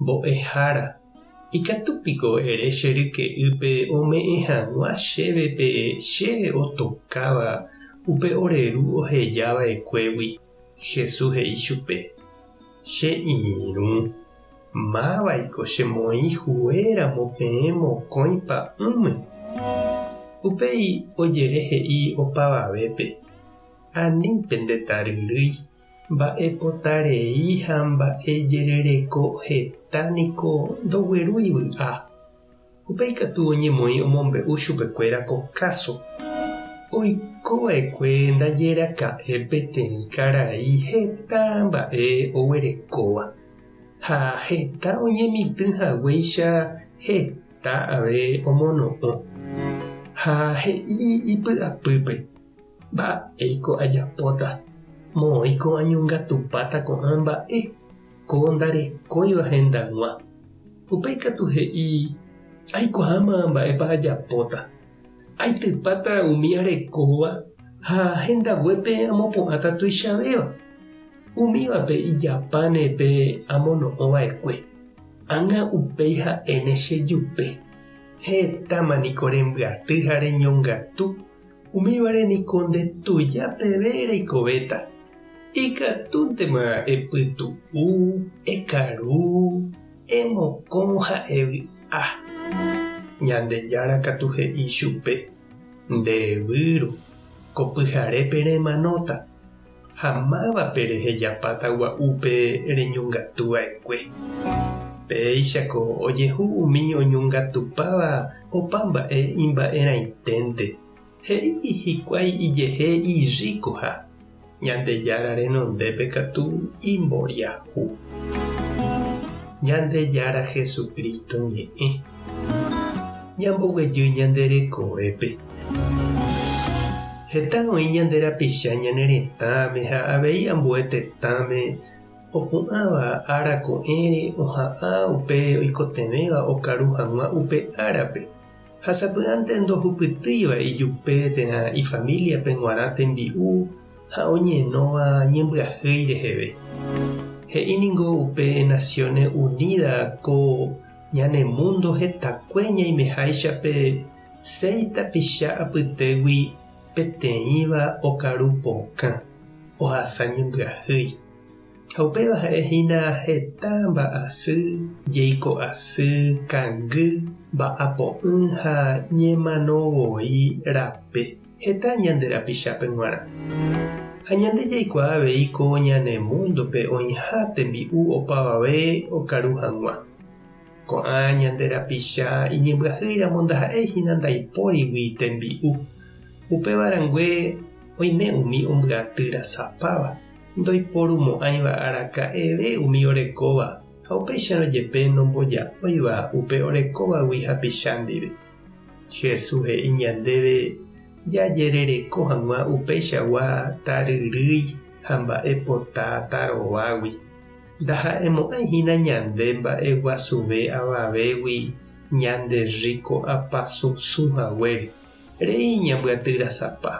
Mbo'ehára, ikatu piko ere che ryke'ýpe ome'ẽ hag̃ua chéve pe che otokáva upe ore ru oheja va'ekuégui? Jesús he'i chupe, Che irũ, mávaiko che moĩ hue ramo peẽ mokõi pa'ũme. Upéi ojere he'i opavavépe, Ani pende taryrýi. Mba'epota rei ha mba'e jerereko heta niko ndoguerúi vy'a. Upéi katu oñemoĩ omombe'u chupekuéra ko káso. Oiko va'ekue ndaje raka'e peteĩ karai heta mba'e oguerekóva, ha heta oñemitỹ haguéicha heta ave omono'õ. Ha he'i ipy'apýpe. Mba'éiko ajapóta? Moõi ko'ã ñongatupáta ko'ã mba'e, ko ndarekóiva hendag̃ua. Upe ikatu he'i, Aikuaáma mba'épa ajapóta. Aitypáta umi arekóva ha hendaguépe amopu'ãta tuichavéva. Umívape ijapáne pe amono'õ va'ekue, ág̃a upéi ha'éne chejupe. Hetáma niko rembyaty ha reñongatu. Umívare niko nde tuja peve reikovéta, ikatúntema epytu'u, ekaru, emokõ ha evy'a. Ñandejára katu he'i chupe, Nde evýru, ko pyharépe remanóta. ha mávape rehejapáta gua'úpe reñongatu va'ekue. Péichako ojehu umi oñongatupáva opa mba'e imba'erãiténte, he'i hikuái ijehe irríkoha, Ñandejára renondépe katu imboriahu. Ñandejára Jesucristo ñe'ẽ. Ñamboguejy ñande rekovépe. Heta oĩ ñande rapicha ñane retãme ha avei ambue tetãme opu'ãva ára ko'ẽre oha'ã upe oikotevẽva okaru hag̃ua upe árape, ha sapy'ánte ndohupytýiva ijupe térã ifamíliape g̃uarã tembi'u ha oñenóva ñembyahýi reheve. He'i ningo upe Naciones Unidas ko ñane múndo hetakue ñaimeháicha pe Seis tapicha apytégui peteĩva okaru pokã ohasa ñembyahýi, ha upéva ha'e hína heta mba'asy, jeiko asy, kangy, mba'apo'ỹ ha ñemano voi rape heta ñande rapichápe g̃uarã. Ha ñande jaikuaa avei ko ñane múndope oĩha tembi'u opavave okaru hag̃ua. Ko'ã ñande rapicha iñembyahýiramo ndaha'éi hína ndaipórigui tembi'u. Upéva rangue oime umi ombyaty rasapáva, ndoiporumo'ãiva araka'eve umi orekóva ha upéicharõ jepe nomboja'óiva upe orekóvagui hapicha ndive. Jesús he'i ñandéve jajerereko hag̃ua upeichagua taryrýi ha mba'e pota tarovágui. Ndaha'emo'ãi hína ñande mba'e guasuve avavégui ñande rriko'apa susũ haguére, rei ñambyatyrasapa.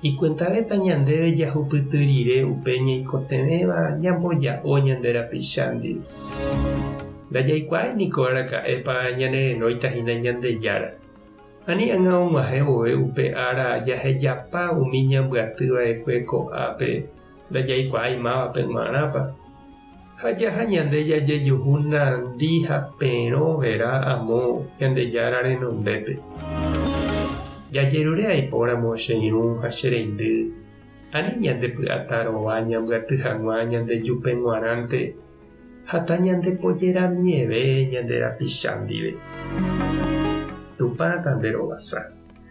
Ikuentavépa ñandéve jahupyty rire upe ñaikotevẽva ñamboja'o ñande rapicha ndive? Ndajaikuaái niko araka'épa ñanerenóita hína Ñandejára. Ani ág̃a og̃uahẽ vove upe ára jahejapa umi ñambyatýva'ekue ko'ápe, ndajaikuaái mávape g̃uarãpa, ha jaha ñande jajejuhu nandi ha perõ vera amo Ñandejára renondépe. Jajerure aipóramo che irũ ha che reindy, ani ñandepy'ata rova ñambyaty hag̃ua ñande jupe g̃uarãnte ha tañandepojeramieve ñande rapicha ndive. Tupã tanderovasa.